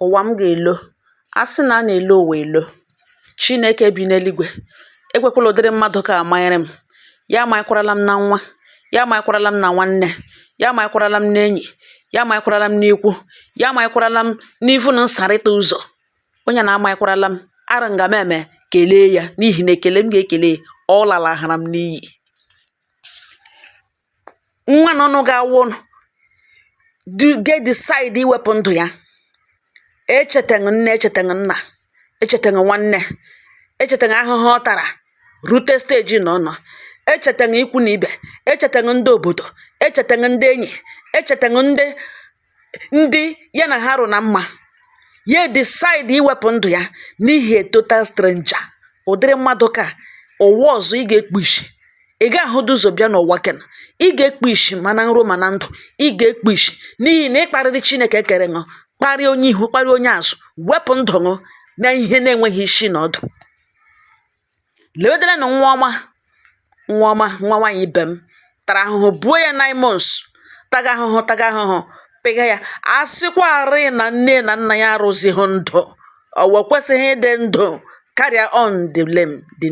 ụwa m ga-elo a sị na a na-elo ụwa elo Chineke bi n'eluigwe ekwekwala ụdịrị mmadụ ka amanyere m ya amanyekwarala m na nwa ya amanyekwarala m na nwanne ya amanyekwarala m n'enyi ya amanyekwarala m n'ikwu ya amanyekwarala m n'ivu na nsarịta ụzọ onye na amanyekwarala m ara nga m eme kelee ya n'ihi na ekele m ga-ekele ọ lalahara m n'iyi nwa nọ nụ ga-awụ ga-decide iwepụ ndụ ya echetaghị nne echetaghị nna echetaghị nwanne echetaghị ahụhụ ọ tara rute steji na ọ nọ echetaghị ikwu na ibe echetaghị ndị obodo echetaghị ndị enyi echetaghị ndị ndị ya na ha rụ na mma ya decide iwepụ ndụ ya n'ihi a total stranger ụdịrị mmadụ ka ụwa ọzọ ị ga-ekpu isi ị ga-ahụdụ ụzọ bịa n'ụwa kena ị ga-ekpu isi ma na nro ma na ndụ ị ga-ekpu isi n'ihi na ị kparịrị chineke kere ṅụ kparịa onye ihu kparịa onye azụ wepụ ndụ ṅụ na ihe na-enweghị isi na ọdụ lewedela nụ nwa ọma nwa nwaanyị ibe m tara ahụhụ buo ya nine months taga ahụhụ taga ahụhụ pịga ya a sịkwarị na nne na nna ya arụzighị ndụ ọ wụ ya kwesịghị ịdị ndụ carry on the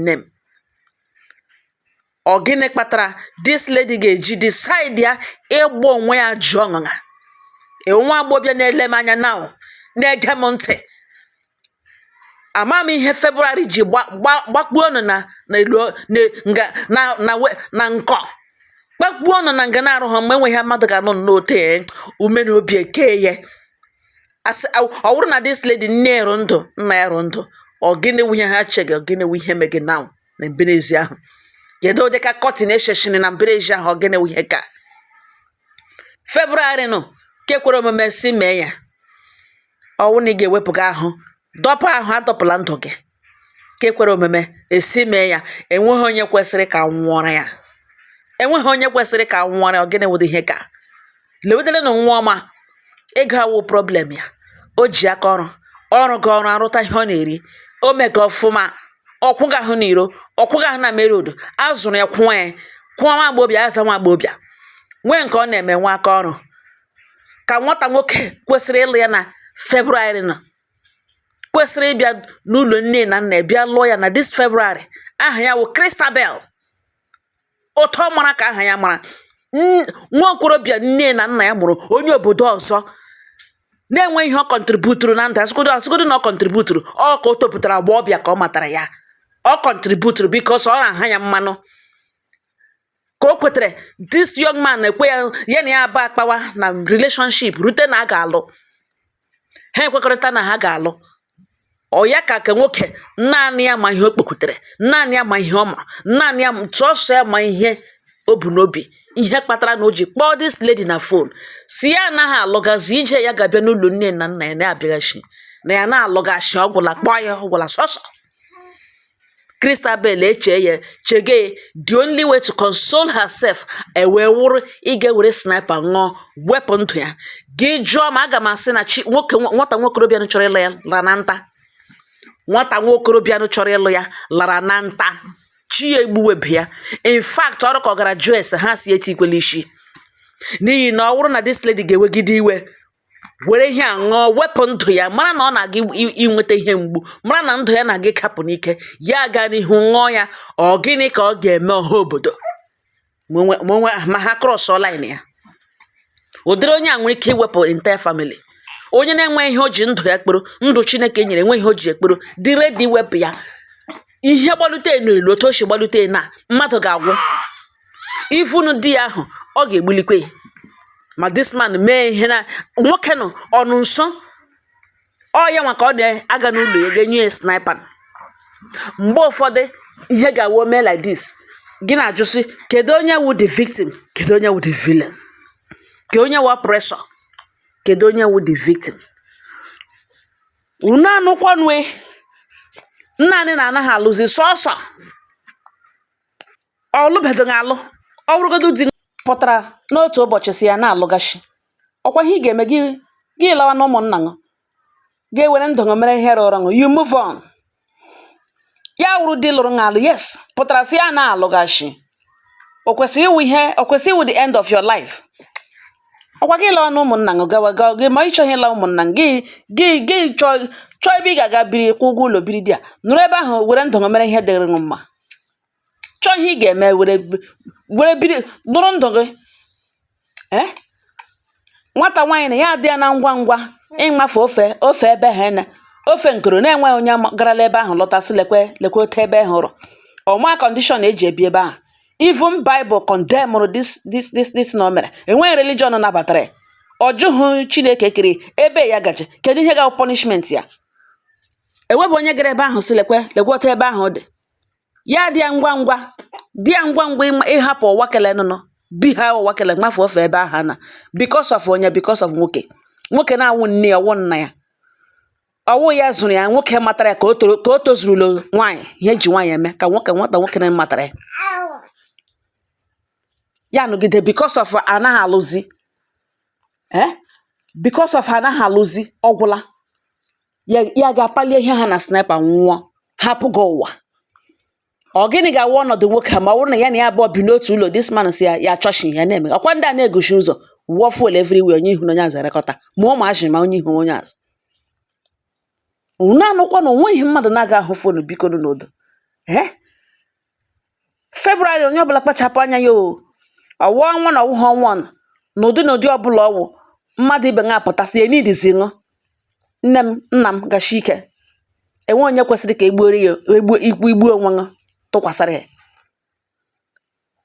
name ọ gịnị kpatara this lady ga-eji decide ya ịgba onwe ya ajụ ọṅụṅa nwa agbọbịa na-ele m anya now na-ege m ntị ama m ihe February ji gbakpuo ọnụ na nkọ gbakpuo ọnụ na nga na-arụ ha mgbe enweghị mmadụ ga-anụ n'ote ume na obi eke ya ọ bụrụ na this lady nne ya rụ ndụ nna ya rụ ndụ ọ gịnị wụ ihe ha che gị ọ gịnị wụ ihe me gị now na mberezi ahụ kedu ụdị ka kọtin esheshini na mberezi ahụ ọ gịnị ihe ka February nụ ke kwere omume si mee ya ọ wụ na ị ga-ewepụga ahụ dọpụ ahụ adọpụla ndụ gị ke kwere omume esi mee ya enweghị onye kwesịrị ka a nwụọrọ ya enweghị onye kwesịrị ka a nwụọrọ ya ọ gịnị wụdị ihe ka lewedela nụ nwa ọma ego awụ problem ya o ji aka ọrụ ọ rụga ọrụ arụta ihe ọ na-eri o mega ọfụma ọ kwụga ahụ na iro ọ kwụga ahụ na mere odo azụrụ ya kwụọ ya kwụọ nwa agbọbịa as a nwa agbọbịa nwee nke ọ na-eme nwee aka ọrụ ka nwata nwoke kwesịrị ịlụ ya na February nọ kwesịrị ịbịa n'ụlọ nne na nna bịa lụọ ya na this February aha ya wụ Christabel otu ọ mara ka aha ya mara nwa okorobịa nne na nna ya mụrụ onye obodo ọzọ na-enweghị ihe ọ kọntributuru na ndụ a sịgodo na ọ kọntributuru ọ ka o topụtara agbọbịa ka ọ matara ya ọ kọntributuru because ọ na-aha ya mmanụ ka o kwetere this young man ekwe ya na ya aba akpawa na relationship rute na a ga-alụ ha ekwekọrịta na ha ga-alụ ọ ya ka ka nwoke naanị ya ma ihe o kpekutere naanị ya ma ihe ọ ma naanị ya sọsọ ya ma ihe o bu n'obi ihe kpatara na o ji kpọọ this lady na phone sị ya anaghị alụgazi ije ya ga-abịa n'ụlọ nne na nna ya na-abịaghazi na ya na-alụghazi ọ gwụla kpọọ ya ọ gwụla sọsọ Christabel echee ya chege ya the only way to console herself ewee wụrụ ịga were sniper ṅụọ wepụ ndụ ya gị jụọ ma aga m asị na chi nwoke nwata nwokorobịa nụ chọrọ ịlụ ya lara na nta nwata nwokorobịa nụ chọrọ ịlụ ya lara na nta chi ya egbuwebe ya in fact ọ rụ ka ọ gara jụọ ese ha sị etikwele isi n'ihi na ọ wụrụ na this lady ga-ewegide iwe were ihe a ṅụọ wepụ ndụ ya mara na ọ na-aga inweta ihe mgbu mara na ndụ ya na-aga ịkapụ n'ike ya aga n'ihu ṅụọ ya ọ gịnị ka ọ ga-eme ọha obodo ma ha crossụọ line ya ụdịrị onye a nwere ike iwepụ entire family onye na-enwe ihe o ji ndụ ya kpọrọ ndụ chineke nyere enwe ihe o ji ya kpọrọ dị ready wepụ ya ihe gbalute enu elu otu o si gbalute na mmadụ ga-agwụ ị fụnụ di ya ahụ ọ ga-egbulikwe ya ma this man mee ihe na nwoke nụ nọ nso ọ ya nwa ka ọ na-aga n'ụlọ ya ga-enye ya sniper mgbe ụfọdụ ihe ga-awụ mee like this gị na-ajụ sị kedu onye wụ the victim kedu onye wụ the villain kedu onye wụ oppressor kedu onye wụ the victim unu anụkwanụ nna anyị na anaghị alụzi sọsọ ọ lụbedịghị alụ ọ wụrụgodu di pụtara n'otu ụbọchị sị ya na-alụghazi ọ kwa ihe ị ga-eme gị gị lawa na ụmụnna ṅụ gị ewere ndụ ṅụ mere ihe rụrụ ṅụ you move on ya wụrụ di lụrụ ṅụ alụ yes pụtara sị ya na-alụghazi o kwesịrị ịwụ ihe o kwesịrị ịwụ the end of your life ọ kwa gị lawa na ụmụnna ṅụ gawa gawa gị ma ị chọghị ịla ụmụnna ṅụ, gị gị gị chọọ chọọ ebe ị ga-aga biri kwụ ụgwọ ụlọ biri there nọrọ ebe ahụ were ndụ ṅụ mere ihe dịrị ṅụ mma chọọ ihe ị ga-eme were were biri dụrụ ndụ gị ee nwata nwaanyị na ya adị ya na ngwa ngwa ịmafe ofe ofe ebe ha na ofe nkoro na-enweghị onye garala ebe ahụ lọta sị lekwe lekwe ote ebe ahụ rụ ọ ma condition e ji ebi ebe ahụ even Bible condemnụrụ this this this this na o mere enweghị religion nabatara ya ọ jụghị chineke kere ebe ya gaje kedu ihe ga-abụ punishment ya enwebu onye gara ebe ahụ sị lekwe lekwe ote ebe ahụ dị Ya dị ya ngwa ngwa dị ya ngwa ngwa ịma- ịhapụ ụwa kele nụnụ bi ha ụwa kele mafe ofe ebe ahụ na because of onye because of nwoke nwoke na-awụ nne ya ọwụ nna ya ọwụ ya zụrụ ya nwoke matara ya ka o toro ka o tozurula nwaanyị ihe eji nwaanyị eme ka nwoke nwata nwoke na matara ya ya nọgide because of anaghị alụzi eh? because of anaghị alụzi ọgwụla ya ya ga-apalie ihe ha na sniper ṅụọ hapụ gị ụwa ọ gịnị ga-awụ ọnọdụ nwoke a ma ọ bụrụ na ya na ya abụọ bi n'otu ụlọ this man si ya ya chọshi ya na-eme ọkwa ndị a na-eguchi ụzọ wụọ fuel everywhere onye ihu na onye azụ erekọta ma ụmụazị ma onye ihu onye azụ unu anụkwa na onweghị mmadụ na-aga ahụ fonu bikonu n'odo ee February onye ọbụla kpachapụ anya ya o ọwụ ọnwa na ọwụghị ọnwa ọnụ na ụdị na ụdị ọbụla ọwụ mmadụ ibe ṅụ apụta sị ya needizi ṅụ nne m nna m gachi ike enweghị onye kwesịrị ka egbuoro ya egbu ikwu igbu onwe ṅụ tụkwasịrị ya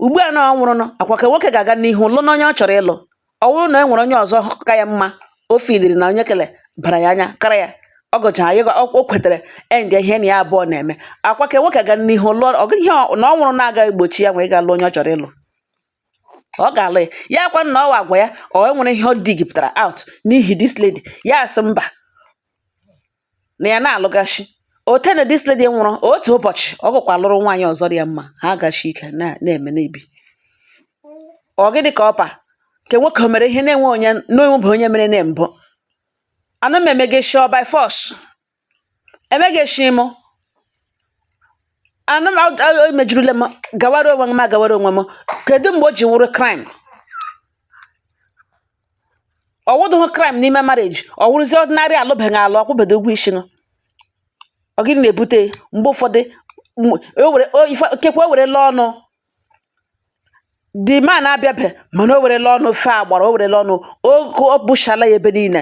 ugbu a na ọ nwụrụ nụ akwa ka nwoke ga-aga n'ihu lụ na onye ọ chọrọ ịlụ ọ bụrụ na e nwere onye ọzọ ka ya mma o feeliri na onye kele bara ya anya kara ya ọ gụchara ya o kwetere end ihe na ya abụọ na-eme akwa ka nwoke ga n'ihu lụọ ọ gaghị ihe ọ- na ọ nwụrụ na-aga egbochi ya nwee ga lụọ onye ọ chọrọ ịlụ ọ ga-alụ ya akwa na ọwa agwa ya ọ enwere ihe ọ digipụtara out n'ihi this lady ya asị mba na ya na-alụgachi otene this lady nwụrụ otu ụbọchị ọ gụkwa lụrụ nwaanyị ọzọ dị ya mma ha agachi ike na-eme n'ebi ọ gịnị ka ọpa nke nwoke o mere ihe na-enwe onye n'onwebe onye mere na mbụ ana m emegeshi ọ by force emegeshi m ana m emejurule m gawara onwe m agawara onwe m kedu mgbe o ji wụrụ crime ọwụdụghị crime n'ime marriage ọ wụrụzi ordinary alụbeghị alụ ọkwụbedo ụgwọ isi nụ ọ gịnị na-ebute mgbe ụfọdụ m- o were o- ife- kekwa o werela ọnụ the man abịabe mana o werela ọnụ fe agbara o werela ọnụ o o bushala ya ebe niile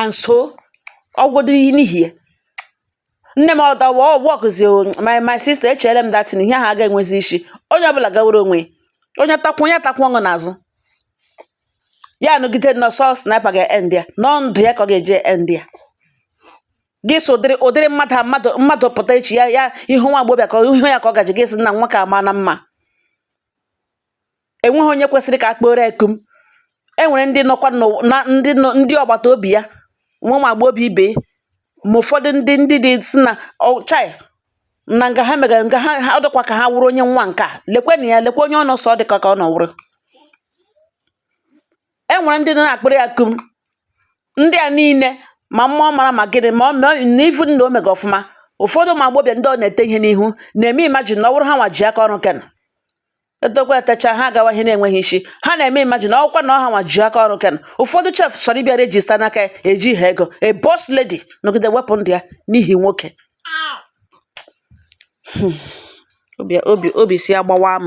and so ọgwụdị n'ihi ya nne m ọda wa ọgwọkụzi my my sister echere m dating ihe ahụ aga enwezi isi onye ọbụla gawere onwe ya onye takwụ onye takwụọ ṅụ n'azụ ya nọgide na ọ sọ sniper ga end ya na ọ ndụ ya ka ọ ga-eji end ya gị so ụdịrị ụdịrị mmadụ a mmadụ mmadụ pụta echi ya ya ihu nwa agbọbịa ka ihu ya ka ọ gaji gị sị na nwa ka ama na mma enweghị onye kwesịrị ka a kpooro ya kum e nwere ndị nọkwa n'ụwa na ndị nọ ndị ọgbata obi ya nwa ma agbọghọbịa ibe ya ma ụfọdụ ndị ndị dị si na ọ chai na nga ha megara nga ha ha ọ dịkwa ka ha wụrụ onye nwa nke a lekwenụ ya lekwa onye ọ nọ sọ ọ dịka ka ọ nọ wụrụ e nwere ndị na-akpịrị ya kum ndị a niile ma mma ọ mara ma gịnị ma ọ ma ọ- na ivu na o mega ọfụma ụfọdụ ụmụ agbọghọbịa ndị ọ na-ete ihe n'ihu na-eme imagine na ọ wụrụ ha nwa ji aka ọrụ kena etekwa etecha ha agawa ihe na-enweghị isi ha na-eme imagine ọkwa na ọ ha nwa ji aka ọrụ kena ụfọdụ sef chọrọ ịbịa register n'aka eji ha ego a boss lady nọgide wepụ ndụ ya n'ihi nwoke hmm. obi obi si agbawa m